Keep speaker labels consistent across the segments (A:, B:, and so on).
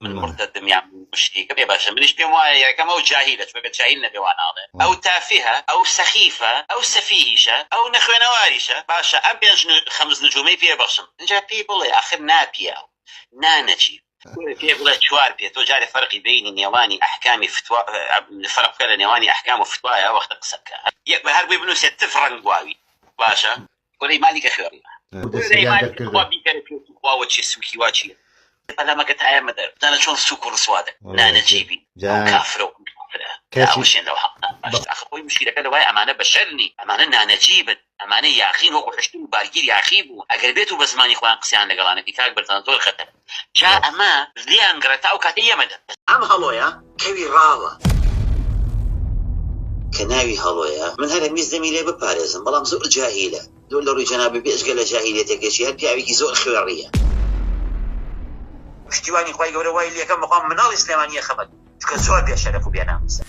A: من مرتدم یان مشریکم ئێ باشە منیش پێم وایە یەکەم ئەو جاهیلە چونکە جاهیل نەبێ وا ناڵێ ئەو تافیهە ئەو سەخیفە ئەو سەفیهیشە ئەو نەخوێنەواریشە باشە ئەم پێنج خەمس نجومەی پێ بەخشم ئینجا پێی بڵێ ئاخر نا پیاو نا نەچیر پێ بڵێ چوار پێ تۆ جارێ فەرقی بینی نێوانی ئەحکامی فتوا فەرق بکە لە نێوانی ئەحکام و فتوایە وەختە قسە بکە یەک بە هەر بۆی بنووسێت تف ڕەنگ گواوی باشە وەرەی مالی کە خوێڕی بۆیە سەریان دەرکردن بیکەرە پێ خوا وە چێ سوکی وا چیە پەلامەکە تایە مەدەر زانە چۆن سوک و ڕسوا دە نانە جیبی کافرە و کافرەشێنەوە حەق ئەخۆی مشیرەکە لەوای ئەمانە بەشەرنی ئەمانە نانەجیبن ئەمانە یاخین وەکو حشتن بارگیر یاخی بوو ئەگەر بێت و بە زمانی خۆیان قسەیان لەگەڵانەکەی کاک بەرزان زۆر خەتەر جا ئەمە زیان گڕێ تا ئەو کاتەی یەمە دە. ئەم هەڵۆیە کەوی ڕاوە کە ناوی هەڵۆیە من هەرە میز دەمی لێ بپارێزم بەڵام زۆر جاهیلە دو لە ڕوی جەنابی بێجگە لە جاهیلێتەکەشی هەر پیاوێکی زۆر خوێڕیە. پشتیوانی خوای گەورە وای لێکەم بەخوا مناڵی سلێمانی یەخەمە چونکە زۆر بێ شەرەف و بێ ناموسە.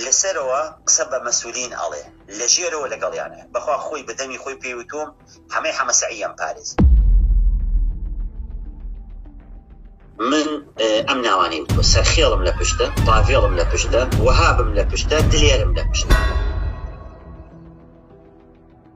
A: لەسەرەوە قسە بە مەسولین ئەڵێ لەژێرەوە لەگەڵیانە بەخوا خۆی بە دەمی خۆی پێی وتووم حەمەی حەمە سەعی یەم پارێز. من ئەم ناوانەی وتووە سەرخێڵم لە پشتە پاڤێڵم لە پشتە وەهابم لە پشتە دلێرم لە پشتە.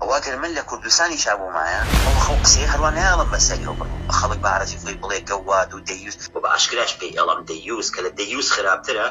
A: ئەوە گەر من لە کوردستانیشا بوومایە ئەو خەو قسەیە هەروا نایەڵم بەسەری ئەو بڕم بە خەڵک بە عەرەزی خۆی بڵێ گەوواد و دەیوس و بە ئاشکراش پێی ئەڵم دەیوس کە لە دەیوس خراپترە.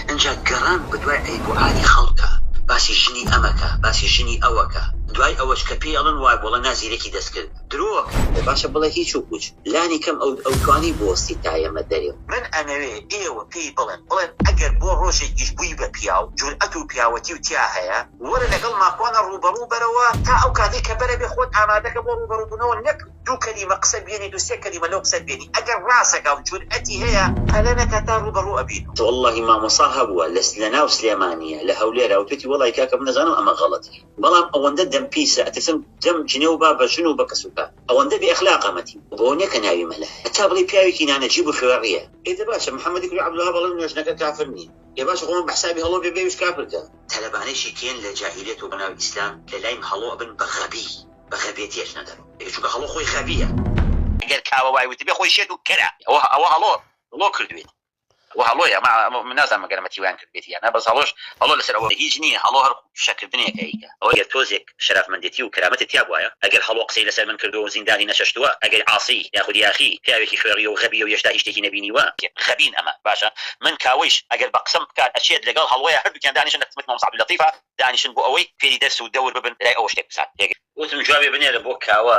A: ئنجا گەڕان بە دوای عەیب و عاری خەڵکا باسی ژنی ئەمەکا باسی ژنی ئەوەکا دوای ئەوەش کە پێی ئەڵن وایبوڵە نا زیرەکی دەستکرد. درۆ ئەکەی ئەڵێ باشە بڵێ هیچ و پوچ لانی کەم ئەو ئەو توانی بوەستی تا ئێمە دەرێ. من ئەمەوێ ئێوە پێی بڵێن بڵێن ئەگەر بۆ ڕۆژێکیش بووی بە پیاو جورئەت و پیاوەتی و تیا هەیە وەرە لەگەڵ ماکوانە ڕووبەڕوو بەرەوە تا ئەو کاتەی کە بەرە بێ خۆت ئامادەکە بۆ ڕووبەڕوو بوونەوە نەک دوو کەلیمە قسە بێنیت و سێ کەلیمە لەو قسەت بێنی ئەگەر ڕاسەکا و جورئەتی هەیە پەلە نەکا تا ڕووبەڕوو ئەبینەوە. وەڵڵاهی مامۆسا هەبووە لە ناو سلێمانیە لە هەولێرە وتویەتی وەڵڵاهی کاکە من دەزانم ئەمە غەڵەتیە. بەڵام ئەوەندە دەم پیسە ئەترسم دەم جنێو با بە ژن و بە کەس و کار ئەوەندە بێ ئەخلاقە مەتی بۆ نیە کە ناوی مەلا هەتا بڵێی پیاوێکی نانەجیب و خوێڕیە. ئێ دە باشە محمدی کوری عبدالوهاب ئەڵێن نۆ ژنەکە کافر نین ئێ باشە خۆمان بە حسابی هەڵۆ بێ بێویش کافر کە. تەلەبانێکی کێن لە جاهیلیەت و بەناوی ئیسلام لە لایم هەڵۆ ئەبن بە غەبی بە غەبێتی ئەچنە دەرۆ ئێ چونکە هەڵۆ خۆی غەبیە. گەر کاوە وای وتبێ خۆی شێت و کەرە ئەوە هەڵۆ هەڵۆ کردوێتی. وە هەڵۆیە مە من نازانم مەگەر ئەمە تیوایان کردبێتی یان نا بەس هەڵۆش هەڵۆ لەسەر ئەوە هیچ نیە هەڵۆ هەر فشەکردنێکە ئیکە ئەوە گەر تۆزێک شەرافمەندێتی و کەرامەتت تیابوایە ئەگەر هەڵۆ قسەی لەسەر من کردوە و زیندانی نەچەشتوە ئەگەر عاسی یاخود یاخی پیاوێکی خوێڕیە و غەبیە و یەشتا هیچ شتێکی نەبینیوە غەبین ئەمە باشە من کاوەیش ئەگەر بە قسەم بکات ئەچێت لەگەڵ هەڵۆیە هەردوکیان دانیشن لە خزمەتی مامۆستا عبداللطیفا دانیشن بۆ ئەوەی فێری دەرس و دەور ببن لای ئەوە شتێک بزانن وتم جوابێ بنێرە بۆ کاوە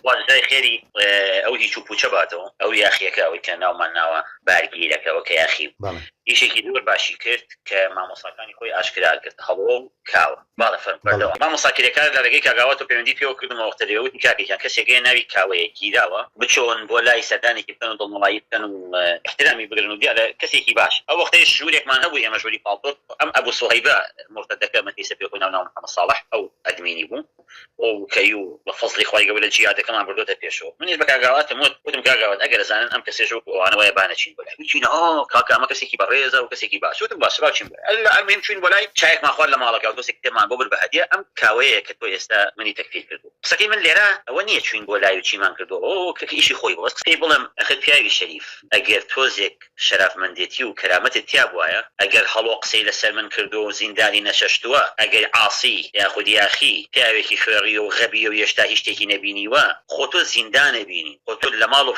A: خوا جزای خێری ئەو هیچ و پوچە باتەوە ئەو یاخیەکە ئەوەی کە ناومان ناوە بارگیرەکە ئەوە کە یاخی بوو ئیشێکی زۆر باشی کرد کە مامۆستاکانی خۆی ئاشکرا کرد هەڵۆ و کاوە باڵە فەرم بەردەوام مامۆستا کرێکار لە ڕێگەی کاک ئاوات و پەیوەندی پێوە کردمەوە وەختە لێ وتی کاکە گیان کەسێک هەیە ناوی کاوەیە گیراوە بچۆن بۆ لای سەردانێکی بکەن و دڵنەوایی بکەن و ئیحترامی بگرن و دیارە کەسێکی باشە ئەو وەختەیش ژوورێکمان هەبوو ئێمە ژووری پاڵتۆک ئەم ئەبو سوهەیبە مورتەدەکە من پێی سەپێ خۆی ناو ناوم محەمەد ساڵح ئەو ئەدمینی بوو ئەو کەیو بە فەزڵی خوای گەورە جیادەکەمان بردۆتە پێشەوە منیش بە کاک گاواتم وت وتم کاک گاوات ئەگەر ئەزانن ئەم کەسێژە وەکو ئەوانە وایە با نەچین بۆ لای وت چینە ئۆ کاکە ئەمە کەسێکی بەڕێزە و کەسێکی باشە وتم باشە با بچین بۆ لای اللە المهیم چووین بۆ لای چایەکمان خوارد لە ماڵەکەوە تۆسێک کتێبمان بۆ برد بە هەدیە ئەم کاوەیە کە تۆ ئێستا منی تەکفیر کردووە قسەکەی من لێرە ئەوە نییە چووین بۆ لای و چیمان کردووە ئۆ کە ئیشی خۆی بوو بەس قسەی بڵێم ئەخەر پیاوی شەریف ئەگەر تۆزێک شەرافمەندێتی و کەرامەتت تیابوایە ئەگەر هەڵۆ قسەی لەسەر من کردوە و زیندانی نەچەشتوە ئەگەر عاسی یاخود یاخی پیاوێکی خوێڕیە و غەبیە و یەشتا هیچ شتێکی نەبینیوە خۆ تۆ زیندانە بینی خۆ تۆ لەماڵ و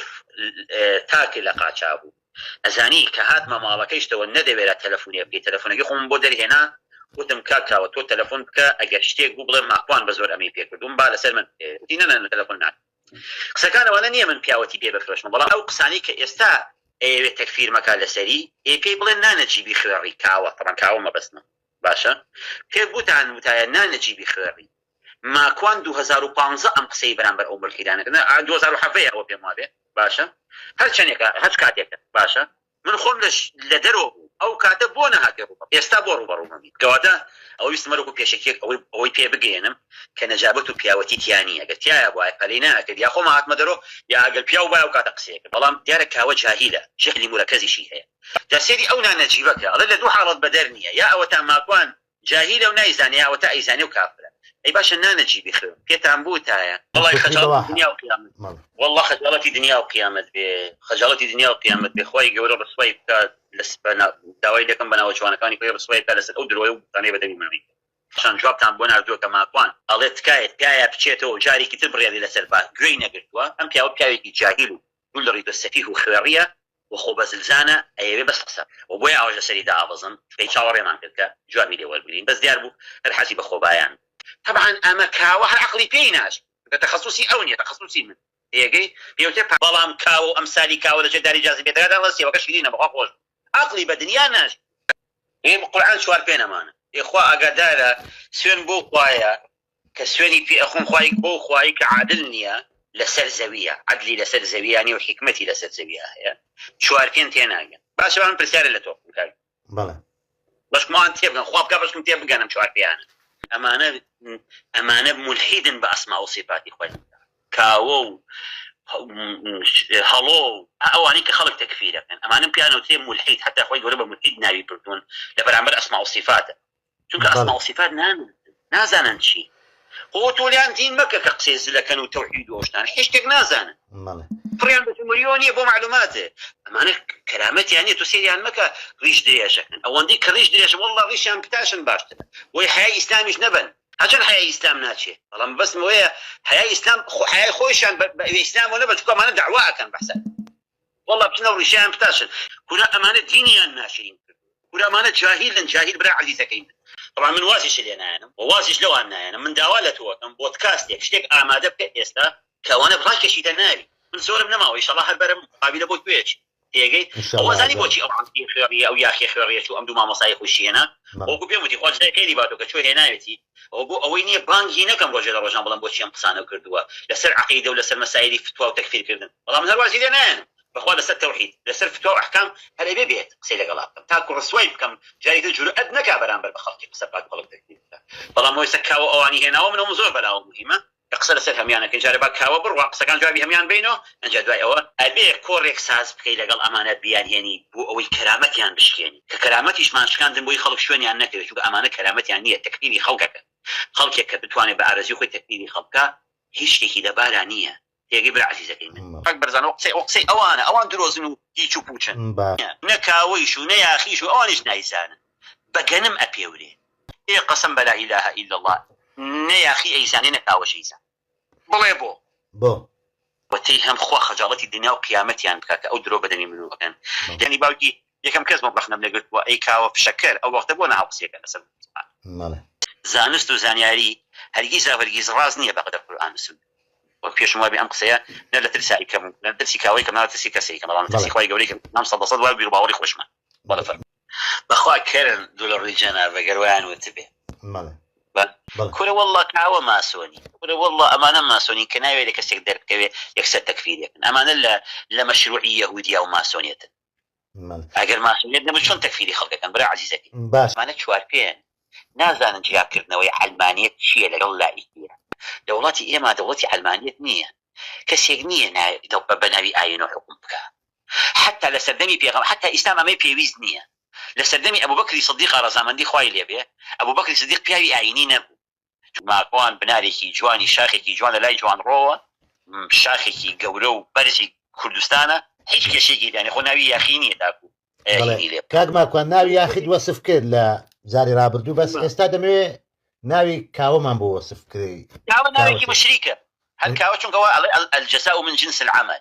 A: تاکە لە قاچابوو ئەزانی کە هاتمە ماڵەکەیشتەوە نەدەوێرا تەلەفونێ بکەی تەلەفونەکەی خۆمم بۆ دەرهێنا وتم کاک کاوە تۆ تەلەفون بکە ئەگەر شتێک بوو بڵێ ماکوان بەزۆر ئەمەی پێکردوم با لەسەر من بکەوێ وتی نەنەنە تەلەفون ناکەم قسەکان ئەوانە نیە من پیاوەتی پێ بفرۆشمە بەڵام ئەو قسانەی کە ئێستا ئەیەوێ تەکفیرمەکا لەسەری ئێ پێی بڵێن نا نەجیبی خوێڕی کاوە تەبعەن کاوە مەبەستمە باشە پێ گوتان وتایە نا نەجیبی خوێڕی ماکوان 2015 ئەم قسەی بەرامبەر ئەو ملحیدانە کردن 2017 ئەوە پێم وابێ باشە هەر چەندێکە هەچ کاتێکە باشە من خۆم لە لە دەرەوە بووم ئەو کاتە بۆ نەهاتە ڕوومم ئێستا بۆ ڕووبەڕوومە بیت گەوادە ئەوە ویستم وەرەکو پێشەکیەک ئەوەی ئەوەی پێ بگەیەنم کە نەجابەت و پیاوەتی تیا نیە گەر تیایا بوایە پەلەی نەئەکرد یا خۆم ئەهاتمە دەرۆ یا ئەگەر پیاو بوایە ئەو کاتە قسەی ئەکرد بەڵام دیارە کاوە جاهیلە شکلی مورەکەزیشی هەیە جا سەیری ئەو نانەجیبە کە ئەڵێ لە دوو حاڵەت بەدەر نیە یا ئەوەتان ماکوان جاهیلە و نایزانێ ئەوەتا ئەیزانێ و کافرە ئەی باشە نانە جی بخوێ پێتان بوتایە. وەڵای خەجاڵەتی دنیا و قیامەت بێ وەڵا خەجاڵەتی دنیا و قیامەت بێ خەجاڵەتی دنیا و قیامەت بێ خوای گەورە ڕسوای بکات لەس بە نا داوای لێکەم بە ناوە جوانەکانی خۆی ڕسوای بکات لەسەر ئەو درۆیە و بوختانەی بە دەمی من ڕیک پاشان جوابتان بۆ ناردوە کە ماکوان ئەڵێ تکایە پیایا بچێتەوە و جارێکی تر بڕیاری لەسەر با گوێی نەگرتوە ئەم پیاوە پیاوێکی جاهیل و گوندڕی بە سەفیه و خوێڕیە و خۆ بەزلزانە ئەیەوێ بەس قسە بکا و بۆیە ئاوەش لەسەری دائەبەزن چونکە چاوەڕێمان کرد کە جوابی لێ وەربگرین بەس دیار بوو هەر حەزی بە خۆبایان بوو. تەبعەن ئەمە کاوە هەر عەقڵی پێی ناچێ چونکە تەخەسوسی ئەو نیە تەخەسوسی من تێگەی پێ وتێ پا. بەڵام کاوە و ئەمسالی کاوە لە ژێر داری جاذبیە دەگاتە ئەوە سێوەکە شیرینە بەخوا خۆش بوو عەقڵی بە دنیا ناچێ. ئێ بە قورعان چوار پێ نەمانە. ئێ خوا ئاگادارە سوێن بەو خوایە کە سوێنی پێ ئەخۆم خوای بەو خوایەی کە عادل نییە لەسەر زەوییە، عەدلی لەسەر زەوییا نییە و حیکمەتی لەسەر زەوییا هەیە، چوارپێن تێناگەن. باشە با من پرسیارێ لە تۆ بکەم کاک گیان. بەڵێ.
B: بەشکم ئەوان
A: تێبگەن، خوا بکا بەشکم تێبگەن ئەم چوارپێیانە. ئەمانە ئەمانە مولحیدن بە ئەسما و سیفاتی خوای گەورە. کاوە و هەڵۆ و ئەوانەی کە خەڵک تەکفیرەکەن ئەمانەم پێیان ئەوترێ مولحید، حەتتا خوای گەورە بە مولحید ناوی بردوون لە بەرامبەر ئەسما و سیفاتە. چونکە ئەسما و سیفات ناناسن نازانن چی خۆ تۆ لێیان دین مەکە کە قسەی زلەکەن و تەوحید و ئەو شتانە هیچ شتێک نازانن بەڵێ پڕیان بە سومریۆ نییە بۆ معلوماتێ ئەمانە کەرامەتیان نییە تۆ سێریان مەکە ڕیش درێژەکەن ئەوەندەی کە ڕیش درێژە وەڵڵا ڕیشیان بتاشن باشترە بۆی حەیای ئیسلامیش نەبەن هەرچەند حەیای ئیسلام ناچێ بەڵام بەسم ئەوەیە حەیای ئیسلام خۆ حەیای خۆیشیان بە بە ئیسلامەوە نەبەن چونکە ئەمانە دەعوا ئەکەن بەحساب وەڵا بچنەو ڕیشیان بتاشن کورە ئەمانە دینیان ناشرین کردوە کورە ئەمانە جاهیلن جاهیل برا عەزیزەکەی من بەڵام من وازیش لێ نایەنم وە وازیش لەوان نایەنم من داوا لە تۆکەم بۆدکاستێک شتێک ئامادە بکە ئێستا کەوانە ڕاکێشی دە ناوی من زۆرم نەماوە ئیشەڵا هەر بەرم مقابلە بۆ گوێچ تێگەی ئەو انشاللە ئەزانی بۆچی ئەزانم ئەو عەزیزی خوێڕیە ئەو یاخیە خوێڕیە چوو ئەم دوو مامۆستای خۆی شی هێنا مە وەکو پێم وتی خوا جزای خێری باتۆ کە چۆ هێناوێتی ئەوە بۆ ئەوەی نیە بانگ ی نەکەم ڕۆژێ لە ڕۆژان بڵێم بۆچی ئەم قسانەو کردووە لەسەر عەقیدە و لەسەر مەسایلی فتوا و تەکفیر کردن بەڵام هەر وازی لێ نایەنم بەخوا لەسەر تەوحید لەسەر فتوا و ئەحکام هەر ئەبێ بێت قسەی لەگەڵا بکەم تاکو ڕسوای بکەم جاری تر جورئەت نەکا بەرامبەر بە خەڵکی قسە بکات و خەڵک تەکفیر بکات بەڵام ئەوە ئێستا کاوە ئەوانی هێناوە من ئەوەم زۆر بەلاوە موهیمە قسە لەسەر هەموان ئەکەین جارێ با کاوە بڕوا قسەکان جوابی هەموان بەینۆ ئەنجا دوای ئەوە ئەبێ کۆڕێک ساز بکەی لەگەڵ ئەمانە بیان هێنی بۆ ئەوەی کەرامەتیان بشکێنی کە کەرامەتیشمان شکاندن بۆی خەڵک شوێنیان نەکەوێ چونکە ئەمانە کەرامەتیان نیە تەکفیری خەڵک ئەکەن خەڵکێک کە بتوانێ بە ئارەزوی خۆی تەکفیری خەڵک بکا هیچ شتێکی لەبارا نیە تێگەی برا عەزیزەکەی من. کاک بەرزان ئەو قسەی ئەو قسەی ئەوانە ئەوان درۆزن و هیچ و پوچن نە کاوەیش و نە یاخیش و ئەوانیش نایزانن. بە گەنم ئەپێورێ ئێ قەسەم بە لائیلاهە ئیلەڵا نە یاخی ئەیزانێ نە کاوەش ئەیزان بڵێ بۆ؟ بۆ؟ وتەی هەم خوا خەجاڵەتی دنیا و قیامەتیان بکا کە ئەو درۆ بە دەمی منۆ ئەکەن یانی باوکی یەکەم کەس بووم ڕەخنەم لێ گرتبووە ئەی کاوە فشەکەر ئەو وەختە بۆ نەهاو قسەیەکە لەسەر مەڵێ. زانست و زانیاری هەرگیزاو هەرگیز ڕاست نییە بە قەدەر قورئان و سوننە وەک پێشم وابێ ئەم قسەیە نە لە ترسا ئەیکەم و نە لە ترسی کاوە ئەیکەم نە لە ترسی کەس ئەیکەم بەڵام لە ترسی خوای گەورە ئەیکەم مام سەد لە سەد وا بیروباوەڕی خۆشمە بەڵێ فەرموو. بەخوا کەرن دوو لە ڕووی جەنابە گەر وایان وتبێ.
B: بەڵێ بەڵێ. کورە
A: واللە کاوە ماسۆنی کورە واللە ئەمانە ماسۆنین کە ناوێ لە کەسێک دەربکەوێ یەکسەر تەکفیریەکن ئەمانە لە لە مەشروعی یەهودیا و ماسۆنێتن بەڵێ. ئەگەر ماسۆنێت نەبن چۆن تەکفیری خەڵک ئەکەن برا عەزیزەکەی. باش. ئەمانە چوار
B: پێن
A: نازانن جیا کردنەوەی عەلمانیەت چیە لەگەڵ لائیکیە لە وڵاتی ئێمە دەوڵەتی عەلمانیەت نیە کەسێک نیە نا بە ناوی ئاینۆ حوکم بکا حەتتا لە سەردەمی پێغەمبەر حەتتا ئیستا مامەی پێویست نیە لە سەردەمی ئەبوبەکری سدیقا رەزامەندی خوای لێ بێ ئەبوبەکری سدیق پیاوی ئاینی نەبوو چونکە ماکوان بنارێکی جوانی شاخێکی جوان لە لای جوانڕۆوە شاخێکی گەورە و بەرزی کوردستانە هیچ کێشەیەکی تیانیە خۆ ناوی یاخی نیە تاکو بەڵێ هینی لێ بکا. کاک
B: ماکوان ناوی یاخیت وەسف کرد لە جاری رابردوو بەس ئێستا دەمەوێ ناوی کاوەمان بۆ وەسف بکەی کاوە ناوێکی کاوەکێ
A: مشریکە هەر کاوە چونکە وا ئەڵێ ال الجزاء من جنس العمل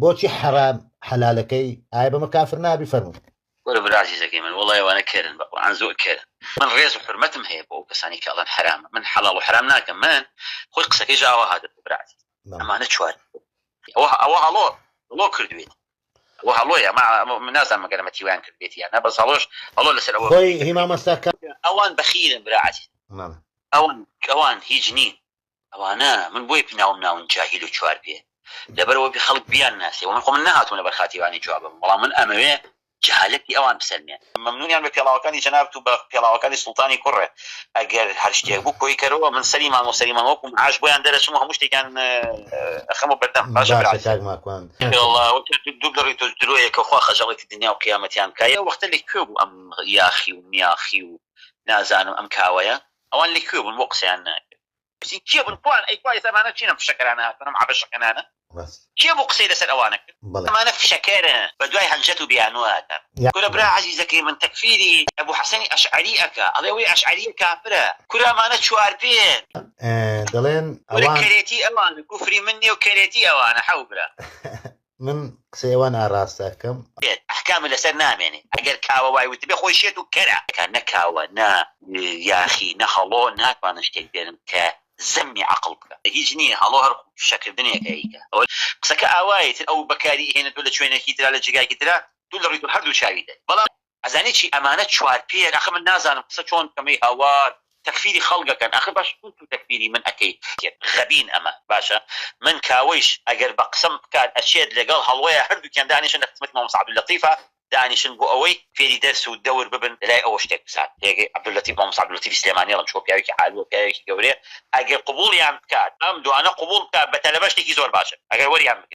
B: بۆچی حەرام حەلالەکەی ئایا بەمە کافر نابی فەرموو. وەرە برا ئەزیزەکەی
A: من وەڵای ئەوانە کەرن بە قورعان زۆر کەرن من ڕێز و حورمەتم هەیە بۆ ئەو کەسانەی کە ئەڵێن حەرامە من حەڵاڵ و حەرام ناکەم من خۆی قسەکەیش ئاوا هاتبوو برا ئەزیز مەم. ئەمانە چوار ئەوە ئەوە هەڵۆ هەڵۆ کردوێت ئەوە هەڵۆیە ئەمە ئەمە من نازانم مەگەر ئەمە تیوایان کردبێت یان نا بەس هەڵۆش هەڵۆ لەسەر ئەوە خۆی هی مامۆستا کە
B: ئەوان بەخیرن
A: برا ئەزیز مەم. ئەوان ئەوان هیچ نین ئەوانە من بۆی پناوم ناون جاهیل و چوار پێ لەبەر ئەوەبی خەڵک بیان ناسێ ومن خۆ من نەهاتوم لەبەر خاتری ئەوانی جوابم بەڵام من ئەمەوێ جەهالەتی ئەوان بسەلمێ. مەمنونیان بە پێڵاوەکانی جەنابت و بە پێڵاوەکانی سوڵتانی کوڕێ ئەگەر هەر شتێک بوو کۆی کەرەوە من سەری مانگۆ سەری مانگۆ کوم عاش بۆیان دەرەچم و هەموو شتێکیان ئەخەمە بەردەم باشە برا عەزیز. باشە
B: کاک ماکوان. ئێڵا دوو
A: گەڕی تۆش درۆیە کە خوا خەجاڵەتی دنیا و قیامەتیان بکا ئەو وەختە لە کوێ بوو ئەم یاخی و میاخی و نازانم ئەم کاوەیە ئەوان لە کوێ بوون بۆ قسەیان ناکرد پرسی کێ بوون کوان ئەی کوا ئێستا ئەمانە چین ئەم فشەکەرانە هاتوون ئەم عەبەشەکەنانە کێ بوو قسەی لەسەر ئەوانە کرد ئەمانە فشەکەرن بە دوای هەنجەت و بیانوو ئەکەن کورە برا عەزیزەکەی من تەکفیری ئەبو حەسەنی ئەشعەری ئەکا ئەڵێ ئەوەی ئەشعەریە کافرە کورە ئەمانە چوار پێن دەڵێن
B: ئەوان کورە کەرێتی
A: ئەوانە کوفری من نیە و کەرێتی ئەوانە حەو برا. من
B: قسەی ئەوە ناڕاست ئەکەم. بێت ئەحکام لەسەر
A: نامێنێ ئەگەر کاوە وای وتبێ خۆی شێت و کەرە. کە نە کاوە نە یاخی نە هەڵۆ ناتوانن شتێک بێنن کە زەمی عەقڵ بکا هیچ نیە هەڵۆ هەر قسەکردنێکە ئیکە ئەوە قسەکە ئاوایە ئیتر ئەو بەکاری ئیهێنێت تۆ لە چوێنێکی ترا لە جێگایەکی ترا دوو لە ڕووی تۆ هەردوو چاوی دەن بەڵام ئەزانی چی ئەمانە چوار پێیەن ئەخە من نازانم قسە چۆن بکەم ئەی هاوار تەکفیری خەڵک ئەکەن ئەخە باش چون تو تەکفیری من ئەکەی غەبین ئەمە باشە من کاوەیش ئەگەر بە قسەم بکات ئەچێت لەگەڵ هەڵۆیە هەردووکیان دانیشن لە خزمەتی مامۆستا عبداللطیفا دانیشن بۆ ئەوەی فێری دەرس و دەور ببن لەلای ئەوە شتێک بزان پێگەی عبداللطیف مامۆستا عبداللطیفی سلێمانی ئەڵێم چۆ پیاوێکی عالمە پیاوێکی گەورەیە ئەگەر قبوڵیان بکات ئەم دوانە قبوڵ بکات بە تەلەبە شتێکی زۆر باشە ئەگەر وەریان بگرن.